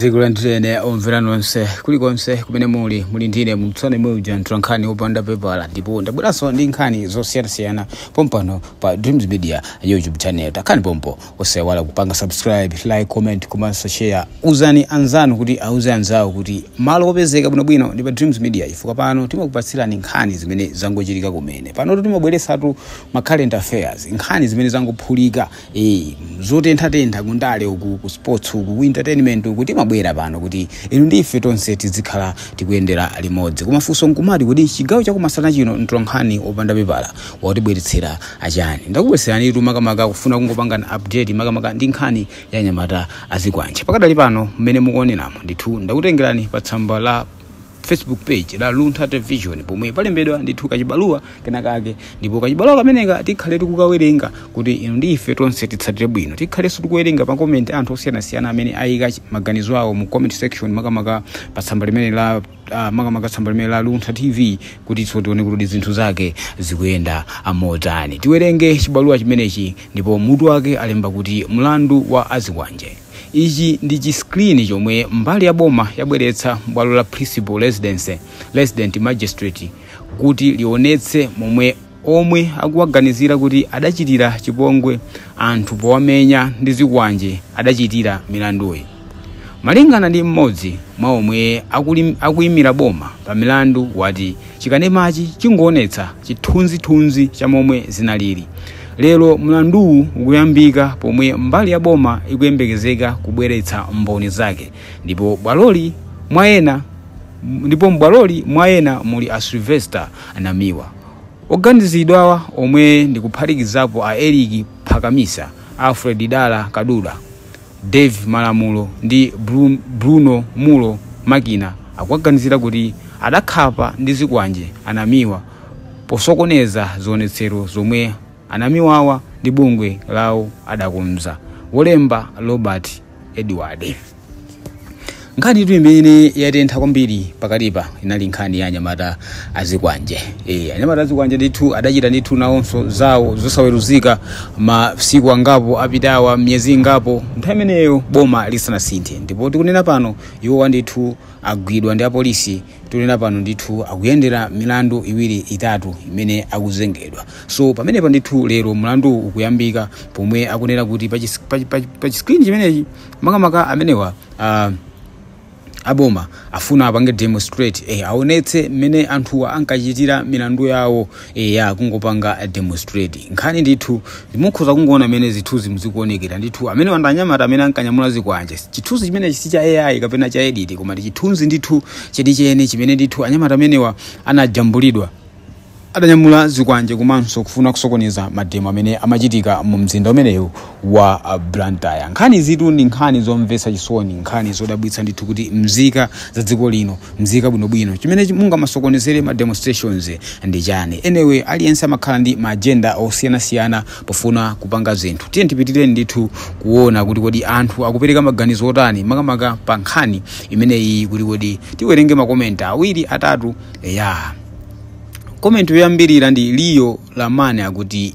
ndikulandireni omvera nonse kulikonse kumene muli muli ndine mtsone muja mtola nkhani wopanda pepala ndipo ndabweranso ndi nkhani zosiyanasiyana pompano pa dreams media youtube channel takhani pompo osaiwala kupanga subscribe like comment komanso share uzani anzanu kuti auze anzawo kuti malo opezeka bwinobwino ndi pa dreams media chifukwa pano timakupatsirani nkhani zimene zangochitika kumene panotu timabweretsatu ma current affairs nkhani zimene zangophulika Eh, zotenthatentha kundale uku ku sports uku ku entertainment uku timabwera pano kuti inu ndi ife tonse tizikhala tikuyendera limodzi koma funso nkumati kuti chigawo chakumasana chino mtolankhani wopanda pepala watibweretsera achani ndakubweretseranitu makamaka kufuna kungopangana update makamaka ndi nkhani ya nyamata azikwanje pakadali pano mmene mukuoneramo ndithu ndakutengerani pa tsamba la facebook page la luntha television pomwe palembedwa ndithu kachibaluwa kenakake ndipo kachibaluwa kameneka tikhale tikukawerenga kuti inu ndi ife tonse titsatire bwino tikhalenso tikuwerenga pa comment anthu osiyanasiyana amene ayika chi- maganizo awo mu comment section makamaka pa tsamba limene la uh, makamaka tsamba limene la luntha tv kutinso tione kuti zinthu zake zikuyenda amotani tiwerenge chibaluwa chimenechi ndipo mutu wake alemba kuti mlandu wa azikwanje Ichi ndi chi screen chomwe mbali ya boma yabweretsa m'bwalo la Principal Residency, Resident Magistrate, kuti lionetse momwe omwe akuwaganizira kuti adachitira chipongwe anthu powamenya ndi zikwanje adachitira milanduyi. Malingana ndi mmodzi mwa omwe akuli- akuimira boma pa mlandu wati chikanemachi chingoonetsa chithunzithunzi cha momwe zinalili Lero mlanduwu ukuyambika pomwe mbali ya boma ikuyembekezeka kubweretsa mboni zake ndipo bwaloli mwa ena ndipo m'bwaloli mwa ena muli a Sylvester Namiwa. Oganizidwawa omwe ndi kuphatikizapo a Eric Phakamisa, Alfred Dala Kadula, Dave Malamulo ndi Bru- Bruno Mulo Makina akuwaganizira kuti adakhapa ndi zikwanje anamiwa posokoneza zionetsero zomwe anamiwawa ndi bungwe lawo adakonza wolemba robert edward nkhaniyitu imene yatentha kwambiri pakatipa inali nkhani ya anyamata azikwanje e, anyamata azikwanje ndithu adachita ndithu nawonso zawo zosaweruzika masiku angapo apitawa miyezi ingapo nthawi imeneyo boma lisanasinthe ndipo tikunena pano iwowa ndithu agwidwa ndi apolisi tikunena pano ndithu akuyendera milandu iwiri itatu imene akuzengedwa so pamenepa ndithu lero mlandu ukuyambika pomwe akunena kuti pa chis- pa- pa- pa chi screen chimenechi makamaka amenewa ah, aboma afuna apange demonstrate eh, aonetse mmene anthuwa ankachitira milandu yawo eya kungopanga demonstrate nkhani ndithu mukhoza kungoona mmene zithunzimu zikuonekera ndithu amenewa ndi anyamata amene ankanyamula zikwanje chithunzi chimenechi si cha ai kapena cha edit koma ndi chithunzi ndithu chenicheni chimene ndithu anyamata amenewa anajambulidwa adanyamula zikwanje komanso kufuna kusokoneza mademo amene amachitika mu mzinda umenewu wa Blantyre. Nkhanizitu ndi nkhani zomvetsa chisoni, nkhani zodabwitsa ndithu kuti mzika za dziko lino, mzika bwinobwino, chimene mungamasokonezere ma demonstrations ndi chani? Anyway, aliyense amakhala ndi ma agenda osiyanasiyana pofuna kupanga zinthu. Tiyeni tipitire ndithu kuona kuti kodi anthu akupereka maganizo otani makamaka pa nkhani imeneyi, kuti kodi tiwerenge makomenti awiri atatu. Eya, komenti yoyambirira ndi Leo Lamani akuti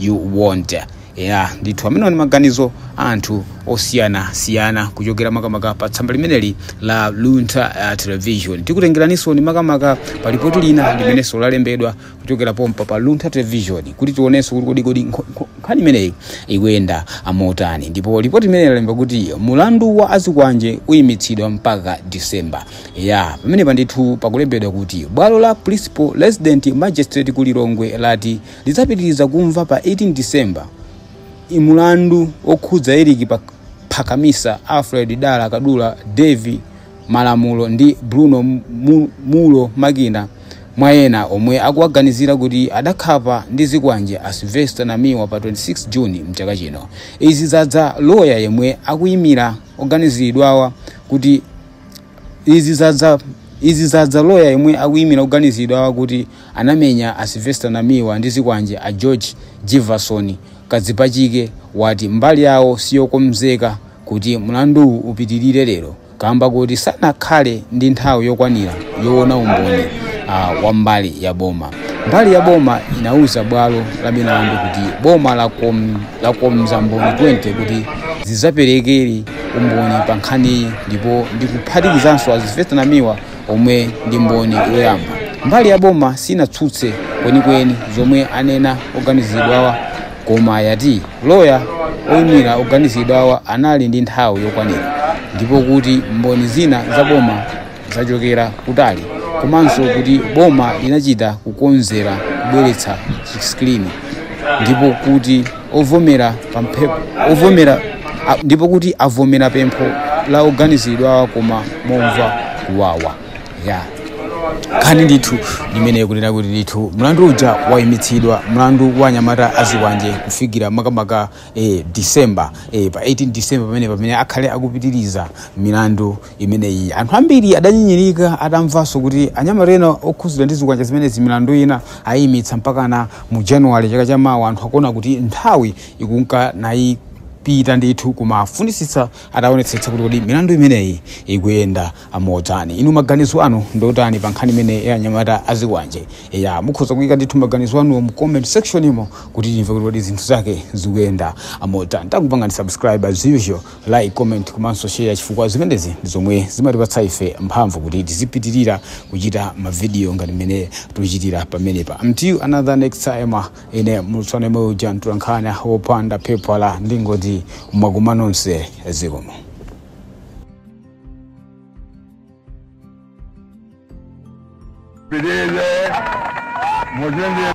you want ya ndithu amenewa ni maganizo a anthu osiyanasiyana kuchokera makamaka pa tsamba limeneli la luntha uh, television tikutengeraninso ni makamaka pa lipoti lina limenenso lalembedwa kuchokera pompa pa luntha television kuti tionenso kuti kodikodi nkho- nkho- nkhani imeneyi ikuyenda motani ndipo lipoti limeneli lalemba kuti mulandu wa azikwanje uyimitsidwa mpaka disemba ya pamene pa ndithu pakulembedwa kuti bwalo la principal resident magistrate ku lilongwe lati lidzapitiriza kumva pa 18 December mulandu wokhudza Eric Pak- Phakamisa, Alfred Dala Kadula, Davie Malamulo ndi Bruno Mu- Mulo Makina mwa ena omwe akuwaganizira kuti adakhapa ndi zikwanje a Sylvester Namiwa pa 26 June mchaka chino. Izi zadza loya yemwe akuyimira oganiziridwawa kuti Izi zadza Izi zadza loya yemwe akuyimira oganiziridwawa kuti anamenya a Sylvester Namiwa ndi zikwanje a George Jivason Kadzipachike wati mbali yawo siyokonzeka kuti mlanduwu upitilire lero kamba kuti sanakhale ndi nthawi yokwanira yowona umboni wa mbali ya boma. Mbali ya boma inauza bwalo la milandu kuti boma lakom. lakonza mboni 20 kuti zidzaperekere umboni pa nkhaniyi ndipo ndikuphatikizanso a sylvester namiwa omwe ndi mboni yoyamba mbali ya boma sinatsutse kwenikweni zomwe anena oganiziridwawa koma yati loya oyimira oganiziridwawa anali ndi nthawi yokwanira ndipo kuti mboni zina za boma zachokera kutali komanso kuti boma linachita kukonzera kubweretsa chiskrini ndipo kuti ovomera pempho ovomera a- ndipo kuti avomera pempho la oganiziridwawa koma momva kuwawa ya nkhani ndithu imene ikunena kuti ndithu mlandu uja wayimitsidwa mlandu wa anyamata azikwanje kufikira makamaka eh, december eh, pa 18 december pamene pamene akhale akupitiriza milandu imeneyi anthu ambiri adanyinyirika atamvanso kuti anyamata ena okhudzidwa ndi zikwanje zimenezi milandu ina ayimitsa mpakana mu January chaka chamawa anthu akuona kuti nthawi ikunka nayipita ndithu kumafunitsitsa ataonetsetsa kuti kodi milandu imeneyi ikuyenda motani inu maganizo anu ndiotani pa nkhani imeneyi ya anyamata azikwanjewa mukhoza kuyika ndithu maganizo anu mu comment section imo kuti timve kuti kodi zinthu zake zikuyenda motani takupangani subscribe as usual like comment komanso share chifukwa zimenezi ndi zomwe zimatipatsa ife mphamvu kuti tizipitirira kuchita mavidiyo ngati mmene tikuchitira pamenepa until another next time ine mulutsana yemwe uja mtolankhani wopanda pepala ndingoti mwakuma nonse zikomo Beleza. Mozambique.